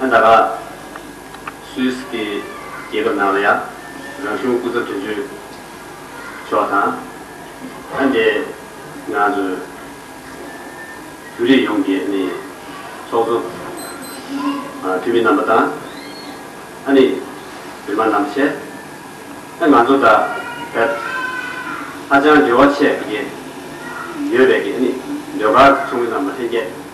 ཨ་མྲ་ཀཱ། Swiss། གྱི་རྒྱལ་ཁབ་ནང་ལ་ཡང་རང་གཞུང་སྐུ་ཚབ་དོན་གཅོད་མཆོག་དང། ཨ་མྲའི་ནང་དུ་བོད་རིགས་ཡོངས་ཀྱི་ནི་ཚོགས་གཙོ། འཐུས་མི་རྣམ་པ་དང། ཨ་ནི་བོད་མ་རྣམ་ཆེ། ཨ་ང་ཚོ་དང་བོད་ཧ་ཅང་འབྲེལ་བ་ཆད་ཀྱི་ཡོད་པས་ཀྱི་ནི་ཟློས་གར་ཚོགས་མི་རྣམ་པ་ལྷན་རྒྱས།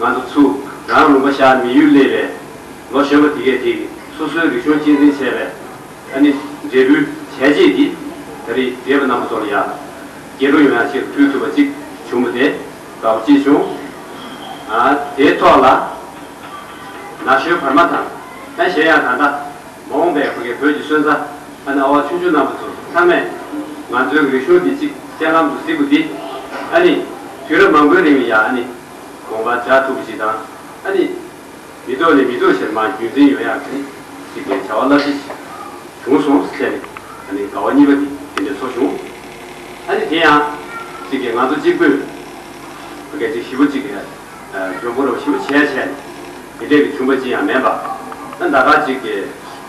ང་ཚོ་ཚུ་རང་ལུང་པ་ཤར་མི་ཡུལ་སླེབས་པའི་ལོ་གཞོན་པ་དེ་གས་དེ་སོ་སོའི་རིག་གཞུང་གཅེས་འཛིན་བྱས་པས་ཨ་ནི་འབྲས་བུའི་བྱས་རྗེས་འདི་ད་རི་རྒས་པ་རྣམས་པ་ཚོ་ལ་ཡ་གྱལ་འགྲོ་ཡོང་ཡང་ཕྱིར་ཕུད་ཐུབ་པ་ཅིག་བྱུང་མོད་དེ་དགའ་བོ་སྐྱེས་བྱུང། དེའི་ཐོག་ལ་ན་གཞོན་བར་མ་དང་ཨ་གཞན་ཡང་ད་ལྟ་མ་འོངས་པའི་བོད་ཀྱི་སོན་རྩ། ཨ་ན་བ་ཆུང་ཆུང་རྣམས་པ་ཚོ་ཚང་མས་ང་ཚོའི་འོས་ཤོག་འདི་གཅིག་སྤྱན་ལམ་དུ་གཟིགས་པོ་འདི་ཨ་ནི་དུས་རབས་མང་པོའི་རིང་ལ་ཡང་ཨ་ནི་དགོངས་པ་འཇགས་ཐུབ་པ་ཞིག་དང་ཨ་ནི་མི་ཐོག་ནས་མི་ཐོག་ཞེར་མ་རྒྱུན་འཛིན་ཡོང་ཡག་གི་ཞིག་པའི་བྱ་བ་རླབས་ཆེ་ཞིག་བྱུང་སོང་བཅས་ནས་ཨ་ནི་དགའ་བ་གཉིས་པ་འདི་དེ་འདྲའི་ཚོར་བྱུང། ཨ་ནི་དེ་ཡང་གཅིག་གིས་ང་ཚོ་གཅིག་པུས་སྐད་ཅིག་བཞི་པོ་གཅིག་གིས་ལྗོངས་ཕུ་རོག་བཞི་པོ་བྱས་བྱས་ནས་དེ་འདྲས་ཀྱི་བྱུང་པ་ཅི་ཡང་མེད་པ་ན་ཟླ་ག་གཅིག་གི་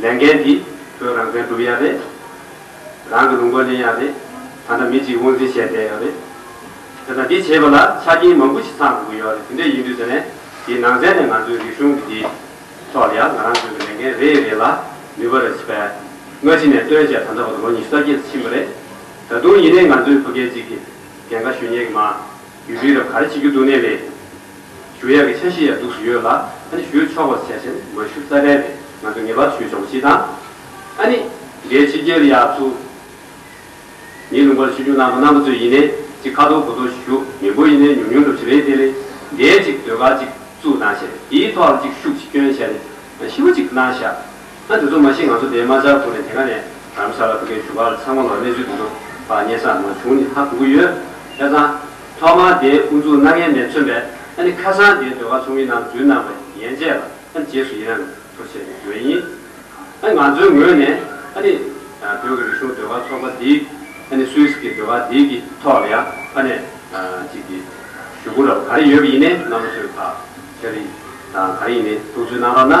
ལས་འགན་འདི་བོད་རང་བཙན་སྒྲུབ་ཡ་རེད། རང་གི་ལུང་པ་ལེན་ཡ་རེད། ད་ལྟ་མི་གཅིག་དབང་འཛིན་བྱས་བསྡད་ཡོད་རེད། དེ་དང་འདི་བྱེད་པ་ལ་ཆ་རྐྱེན་མང་པོ་ཞིག་ཚང་དགོས་ཀྱི་ཡོད་རེད་དེ་འདྲས་ཡིན་དུས་དེ་ནས་དེའི་ནང་ཚན་ནས་ང་ཚོའི་རིག་གཞུང་གི་འདི་ཐོག་ལ་ཡང་ང་རང་ཚོའི་གི་ལས་འགན་རེ་རེ་ལ་ནུས་པ་རེ་བྱེད་པས་སྔ་ཕྱི་ནས་བཏོན་བྱས་ད་ལྟ་བར་ལོ་ཉིས་བརྒྱད་ཕྱིན་པ་རེད། ད་དུང་ཡིན་ནའི་ང་ཚོའི་བོད་སྐད་ཅིག་གི་རྒན་ཁ་ཞུ་ཉན་གི་མ། ཡུལ་ཤུལ་ལ་ག་རེ་བྱེད་རྒྱུ་འདུག་ནས་རེད། ཞུ་ཡག་གི་ཆ་ཤས་ཡང་འདུག་ཟུར་ཡོད་ལ་ཨ་ནི་ཞུ་ཆོག་པར་བྱས་ཟེར་མ་ཞུ་རྩ་བྲལ་རེད་ང་ཚོ་ངེས་པར་ཞུ་ཆོག་པ་ཞིག་དང། ཨ་ནི། འདྲའི་ཕྱི་རྒྱལ་ཡག་ཚུ། ཉིན་ལུང་པར་ཆོས་འབྱུང་གནང་པ་གནང་པ་ཚོས་ཡིན་ནས་ཅིག་ཁ་ཐོར་གོ་ཐོར་ཞུ་མི་འབོ་ཡིན་ནས་ཉུང་ཉུང་སྒྲུབ་བྱེད་རེད་དེ་ལས། འདའི་ཅིག་ཟློས་གར་ཅིག་བཙུགས་གནང་བྱས་དེའི་ཐོག་ལ་ཅིག་ཤུགས་ཅིག་སྐྱོན་བྱས་ནས་ཤི་བ་ཅིག་གནང་བཞག་ད་དེ་ཚོ་མ་ཤེས་ང་ཚོ་དེའི་མ་ཅག་ཁུར་ནས་དེ་ག་ནས་རམ་ས་ལ་ཕུ་ཁའི་བཞུགས་སྒར་ཚང་མ་ལ་གནས་ཚུལ་དེ་ཚོ་བར་སྙན་ས་མ་བྱུང་ནི་ཧ་གོ་གི་ཡོད། ཧད་ཙང། ཐོག་མར་དེའི་དབུ་འཛུགས་གནང་མཁན་མེད་མཚོན་པས་ཨ་ནི་ཁ་སང་དེའི་ཟློས་གར་ཚོགས་མི་རྣམས་འཛུལ་གནང་བའི་ཡན་ཆད་ལ་ཨ་ནི་རྗེས་སུ་ཡི་རངས་ཐོ་བྱས་པའི་དོན་ཡིན། ཨ་ནི་ང་ཚོའི་ངོས་ནས་ཨ་ནི། བོད་ཀྱི་རིག་གཞུང་ཟློས་གར་ཚོགས་པ་འདིའི་ཨ་ནི་སུད་སི་ཀའི་ཟློས་གར་འདིའི་གི་ཐོག་ལ་ཡང་ཕ་ནས་ཅིག་གི་ཞུ་སྒོ་ར་བ་ག་རེ་ཡོད་ཀི་ཡིན་ནའི་ནང་པ་ཚོའི་བག་ཆགས་རིགས་དང་ག་རེ་ཡིན་ནའི་ཐུགས་ཚུལ་གནང་རོགས་གནང།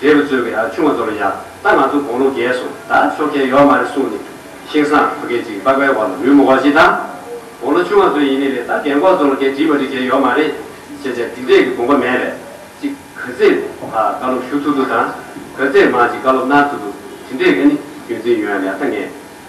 རྒྱལ་བུ་གཙོས་ཀྱི་ཨ་ཆུང་བ་ཚོ་ལ་ཡང་ད་ང་ཚོ་དགོང་ལོ་བརྒྱད་སོང་ད་ཆོ་གས་ཡོག་མ་རེད་གསུངས་ནས་ཤིང་སང་བུ་སྐད་ཅིག་པགས་པའི་བར་ལ་རུས་མོ་བ་ཞིག་དང། དགོང་ལོ་ཆུང་བ་ཚོ་ཡིན་ནི་རེད་ད་རྒན་འཁོགས་ཚོ་ལ་སྐད་དྲིས་པ་རིགས་བྱས་ཡོག་མ་རེད། བྱས་བྱས་དེ་འདྲས་ཀྱི་དགོངས་པ་མེད་པས་ཅིག་ག་ཚེ་ཨ་བཀའ་སློབ་ཞུ་ཐུབ་ཐུབ་དང། ག་ཚེ་མ་ཅིག་བཀའ་སློབ་གནང་ཐུབ་ཐུབ་དེ་འདྲས་ཀྱི་ནི་རྒྱུན་འཛིན་ཡོད་ཡག་ད་ངས།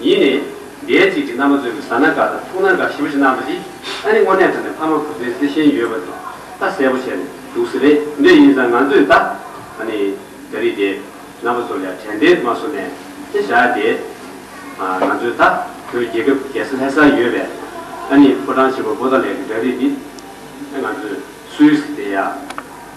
ཡིན་ནས། རྒྱལ་གཅིག་གི་རྣམ་པ་མཛོད་ཀྱི་བཟའ་ན་འགའ་དང་ཐུག་ན་འགའ་ཞི་བ་ཞིག་གནང་བ་རེད། ཨ་ནི་དངོས་གནས་ད་ནི་ཕ་མ་བུ་ཚའི་བརྩེ་ཞེན་ཡོད་པ་འདུག་ད་གསལ་པོ་བྱས་ནས་འདུག་ཟེར་རེད་འདོད་ཡིན་ཙང་ང་ཚོས་ད། ཨ་ནི། རྒྱ་རིགས་དེ། རྣམ་པ་ཚོར་ཡང་དྲན་བདེར་མ་བཟོ་ནས། ཅི་བྱ་སྟེ། ཨ། ང་ཚོས་ད། བོད་རྒྱལ་ཁབ་རྒྱལ་ས་ལྷ་སར་ཡོད་པས། ཨ་ནི་ཕོ་བྲང་ཆེན་པོ་པོ་ཏཱ་ལའི་གི་འདྲ་རིས་འདི། ཨ་ང་ཚོས། སུའི། དེ་ཡང།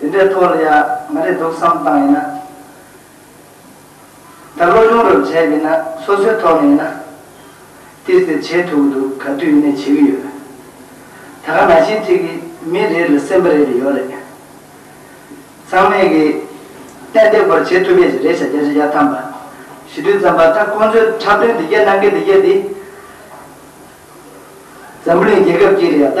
དེ་འདྲའི་ཐོག་ལ་ཡང་མ་རེད་འདུག་བསམ་སྟངས་ཡིན་ན། ད་བློ་སྦྱོང་རབ་བྱས་ཀྱི་ན་སོ་སོའི་ཐོག་ནས་ཡིན་ན། དེ་ཟེར་བྱེད་ཐུབ་ཀྱི་འདུག་ག་དུས་ཡིན་ནས་བྱེད་ཀྱི་ཡོད། ད་ག་ན་ཞིག་ཐིག་གི་མི་རེ་ལ་སེམས་པ་རེ་རེ་ཡོད་རེད། ཚང་མས་ཀྱི་ཏན་ཏན་པོར་བྱེད་ཐུབ་པས་རེད་བྱ་རྒྱ་ཆེ་ཡ་ཐམ་པ་ཞིག་དུས་ཙམ་པ་ད་ཁོང་ཚོས་འཁྲབ་སྟོན་འདི་རྒྱ་ནང་གི་འདི་རྒྱ་འདི། འཛམ་བུ་གླིང་རྒྱལ་ཁབ་ཀྱི་རེད་ཡ་ད།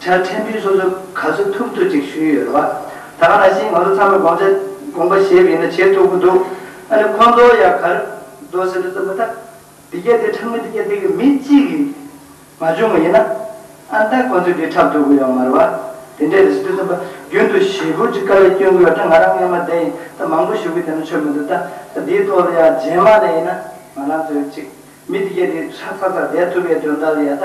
ཆ་ཕྲན་བུའི་སོ་སོ་ག་ཚོད་ཐུབ་ཐུབ་ཅིག་ཞུས་ཡོད་ལ། ད་ག་ནང་བཞིན་ང་ཚོ་ཚང་མས་དགོངས་འཆར་དགོངས་པ་བཞེས་པ་ཡིན་ན་བྱེད་ཐུབ་ཀྱི་འདུག་ཨ་ནི་ཁོང་ཚོ་ཡང་གར་འགྲོ་ཟེར་དུས་ཙམ་མ་ཐག་འདི་རྒྱ་དེ་འཁྲབ་ངོ་འདི་རྒྱ་དེ་གི་མི་གཅིག་གིས་མ་བྱུང་བ་ཡིན་ན། ཨ་མདའ་ཁོང་ཚོས་འདི་འཁྲབ་ཐུབ་ཀྱི་ཡོད་མ་རེད་བ། དེ་འདྲས་རེད་ཟེར་དུས་ཙམ་པ་རྒྱུན་དུ་ཞེ་ཕུར་གྱི་དཀའ་ལས་སྐྱོན་གྱི་ཡོད་ད་ང་རང་སྔས་མ་དེ་ཡིན་ད་མང་པོ་ཞུ་གི་དེ་ན་ཆོད་མི་འདུག་ད་ད་འདིའི་ཐོག་ལ་ཡང་རྗེས་མ་ལ་ཡིན་ན་ང་རང་ཚོས་གཅིག་མི་འདི་རྒྱ་དེ་འཁྲབ་ཚར་ཚར་བསྡད་ཐུབ་པའི་དོན་དག་ལ་ཡང་ད།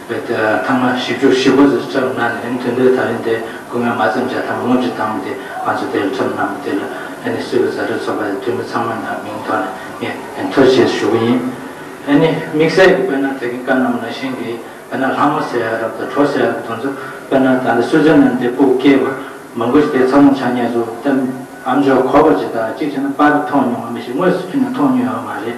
བའི་དེ་ལ་ཐ་མ་བཞི་བཅུ་བཞི་པོ་ཟེར་ཁྱབ་སྣང་ནི་རིང་ཐུང་དུས་ད་རིང་དེ་སྐུ་ངལ་མ་ཙམ་བྱ་ཐ་མ་སྔོན་གྱི་ཐ་མ་དེ་ང་ཚོ་དེ་ལ་ཁྱབ་སྣང་བ་དེ་ལ་ཨེ་ནི་སྲིད་པའི་བཟའ་བྲལ་ཚོགས་པ་དེ་འཐུས་མི་ཚང་མ་ནས་མིང་ཐོག་ནས་ངས་མཐོ་བྱས་སུ་ཞུ་གི་ཡིན། ཨེ་ནི་དམིགས་བསལ་གྱི་དཔེར་ན་དེ་གི་བཀའ་གནང་ན་ཤིང་གིས་དཔེར་ན་ལྷ་མོ་ཟེར་ཡ་རབས་དང་གྲོ་ཟེར་ཡ་རབས་དང་ཚོ་དཔེར་ན་ད་ལྟ་སུད་ཙེར་ལན་དེ་སྤུག་སྐྱེས་པར་མང་པོ་ཞིག་དེ་ཚ་ལུང་ཆ་ངས་སུ་ཏམ་ཨམ་ཇོ་ཁོ་པ་ཇི་ལྟར་གཅིག་བྱས་ན་པར་མཐོང་མྱོང་བ་མི་ཞིག་དངོས་སུ་ཁྱོད་ནས་མཐོང་མྱོང་ཡོད་མ་རེད།